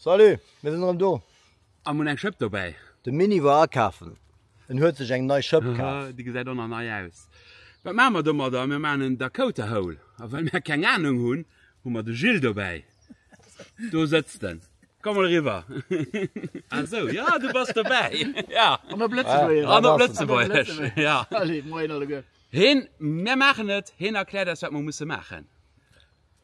Salut, mir sinn erëm do! Am hunn eng Schëpp dobäi. De Mini war akafen, en huet sech eng nei Schëpp kaf. Haha, déi gesäit och nach nei aus. Wat maache mer domadder? Mir maachen en Dakota Hole. A well mer keng Anung hunn, hu mer de Gilles dobäi. Do sëtzt en. Komm mol eriwwer. Ah sou, jo, du bass dobäi. Jo. An op Lëtzebuergesch. An op Lëtzebuergesch, jo. Allez, Moien alleguer. Heen, mir maachen et. Heen erkläert eis, wat mer musse maachen.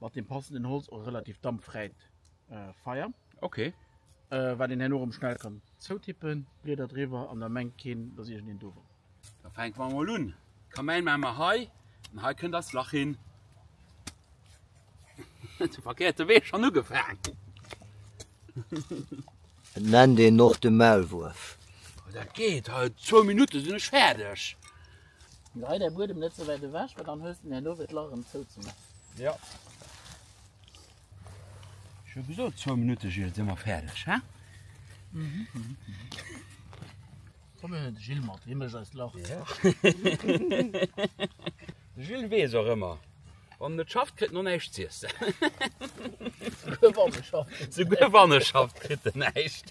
mat dem passenden Holz och e relativ dampfräit Feier. Okay. Äh, wat een herno rëm schnell kann zoutippen, Blieder driwwer an da mengt keen, dass iergendeen do wor. Da fänke mer emol un. D'Kamäin maache mer hei an hei kënnt eist Lach hin. Zum verkehrte Wee schon ugefaangen. Et nennt een och de Maulwuerf. Dat geet, hei zwou Minutte sinn ech fäerdeg. Lei däi Buedem net sou wäit ewech, well dann hues de en herno fir d'Lach erëm zouzemaachen. Jo. Ech hu gesot, zwou Minutte, Gilles, si mer fäerdeg, he? Komm, mir huelen de Gilles mat, hie mécht eist Lach. De Gilles weess och ëmmer, wann en net schafft, kritt en och näischt z'iessen. Souguer wann e schafft, kritt en näischt.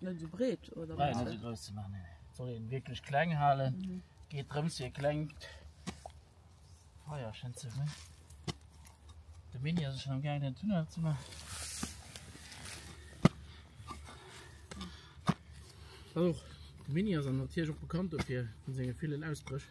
Net esou breet oder? Nei, net esou grouss ze maachen, nee. Et soll een wierklech kleng halen. Mhm. Geet drëms fir e klengt Feier schënn ze hunn. De Mini ass schon am gaangen den Tunnel ze maachen. Och de Mini ass an natierlech och bekannt dofir, vun senge villen Ausbrëch.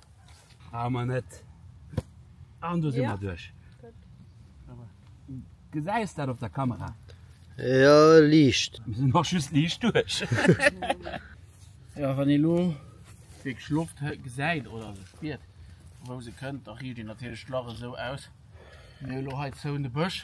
Awer net. An do si mer duerch. Gesäis dat op der Kamera? Jo, liicht. Mir sinn och just liicht duerch. Jo, wann ee lo wierklech Loft gesäit oder se spiert, vu wou se kënnt, da riicht een natierlech d'Lach esou aus. Mir hu lo hei zou de Bësch.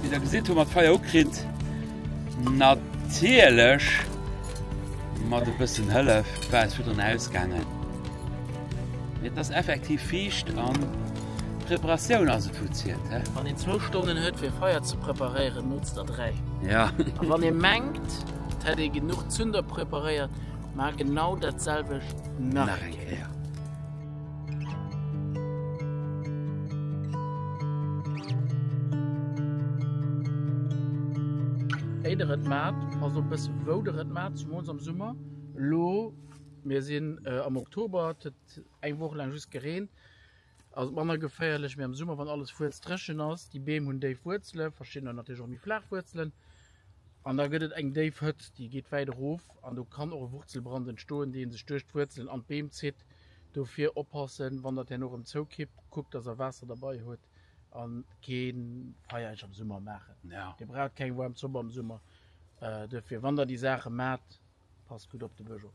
Wéi der gesitt hu mer d'Feier ugekritt. Natierlech mat e bëssen Hëllef war et virdrun ausgaangen. Mee et ass effektiv fiicht an d'Preparatioun ass et wou zielt he. Wann een zwou Stonnen huet fir Feier ze preparéieren, notzt der dräi. Ja. A wann ee mengt. Et hätt ee genuch Zünder preparéiert, mä genau dat selwecht nach eng Kéier. Wéi der et mat, also e bësse wou der et mat, zemools am Summer. Elo, mir sinn am Oktober, et huet eng Woch laang just gereent. Ass manner geféierlech, mee am Summer, wann alles fuerzdréchen ass, déi Beem hunn déif Wuerzele, verschidden hunn natierlech och méi flaach Wuerzelen, an da gëtt et eng déif Hëtt, déi geet wäit erof an do kann och e Wurzelbrand entstoen, dee sech duerch d'Wuerzelen an d'Beem zitt. Dofir oppassen, wann Der d'Hänn och erëm zoukippt, kuckt, dass Der Waasser derbei hutt a kee Feier Iech am Summer maachen. Dir braucht keng waarm Zopp am Summer, dofir, wann Der déi Saache maacht, passt gutt op de Bësch op.